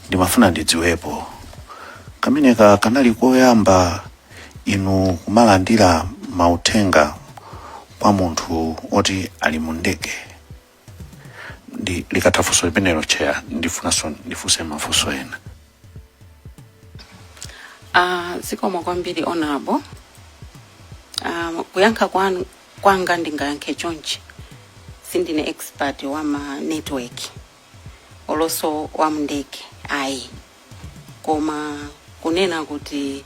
ndimafuna ndidziwepo kameneka kanali koyamba inu kumalandira mauthenga kwa munthu oti ali mu ndege nde likatha funso limenelo chair ndifunanso ndifunse mafunso ena Ah, zikomo kwambiri honorable um, kuyankha kwanga ndingayankhe chonchi sindine expert wa ma network oloso wa mndege ayi koma kunena kuti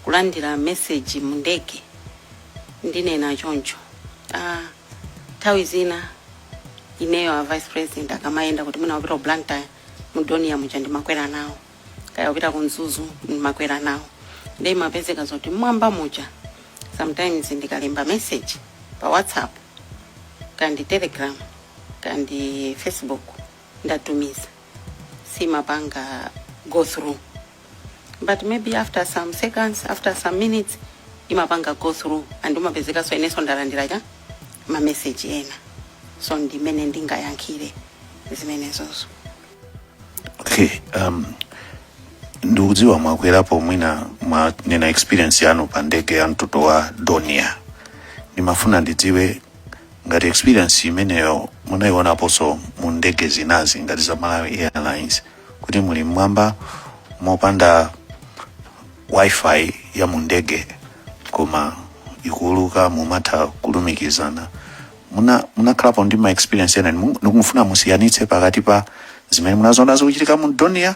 kulandira message mu ndege ndinena choncho ah, nthawi zina ineyo a vice president akamayenda kuti mwina wapita ku blantyre mu dornier muja ndimakwera nawo kaya wapita ku mzuzu ndimakwera nawo nde imapezeka zoti mmwamba muja sometimes ndikalemba message pa whatsapp kandi telegram kandi facebook ndatumiza siimapanga go through but maybe after some seconds after some minutes imapanga go through and umapezekanso inenso ndalandira ma message ena so ndimene ndingayankhire zimenezozo okay um, ndikudziwa mwakwerapo mwina mwanena experience yanu pa ndege ya mtundu wa dornier ndimafuna ndidziwe ngati experience imeneyo munayionaponso mu ndege zinazi ngati za malawi airlines kuti muli mmwamba mopanda wifi ya mu ndege koma ikuuluka mumatha kulumikizana muna munakhalapo ndi ma experience ena ndimu- ndikumufuna musiyanitse pakati pa zimene munaziona zikuchitika mu dornier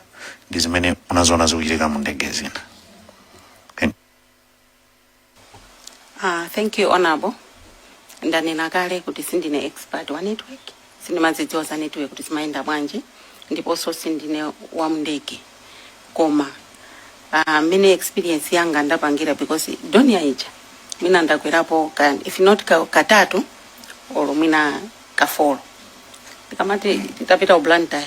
ndi zimene munaziona zikuchitika mu ndege zina Thank- Ah, thank you honorable ndanena kale kuti sindine expert wa network sindimazidziwa za network kuti zimayenda bwanji ndiponso sindine wa mndege koma ah, mmene experience yanga ndapangira because dornier ija mwina ndakwerapo ka, if not ka, katatu or mwina kafolo tikamati tapita ku blantyre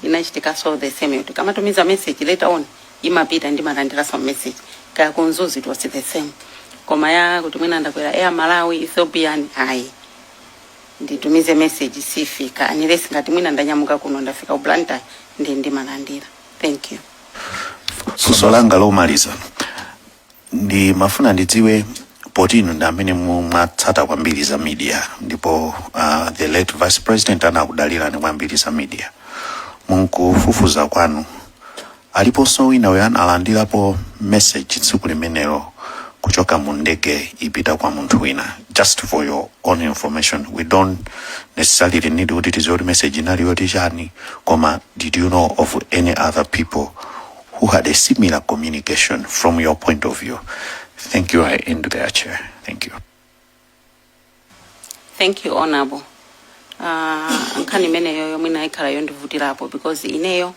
inachitika so the same yo tikamatumiza message later on imapita ndimalandira some message kaya ku mzuzu it was the same koma ya kuti mwina ndakwera air malawi ethiopian ayi nditumize message siifika unless ngati mwina ndanyamuka kuno ndafika ku blantyre nde ndimalandira thank you funso langa lomaliza ndimafuna ndidziwe poti inu ndi amene mumatsata kwambiri za media ndipo uh, the late vice president anakudalirani kwambiri za media munkufufuza kwanu Aliponso wina yemwe analandilapo message tsiku limenelo kuchoka mu ndege ipita kwa munthu wina just for your own information we don't necessarily need kuti tidziwe kuti message inali yoti chani koma did you know of any other people who had a similar communication from your point of view thank you i end there chair thank you thank you honorable uh, nkhani imeneyoyo mwina ikhala yondivutirapo because ineyo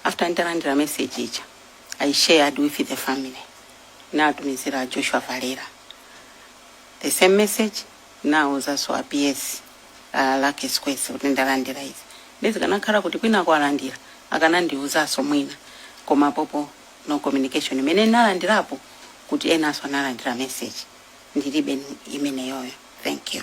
after nditalandira message ija i shared with the family natumizira joshua valera the same message nawuzanso a ps uh, lucky sikwese kuti ndalandira izi nde zikanakhala kuti wina walandira akanandiwuzanso mwina koma popo no communication imene ndinalandirapo kuti enanso analandira message ndilibe imeneyoyo thank you.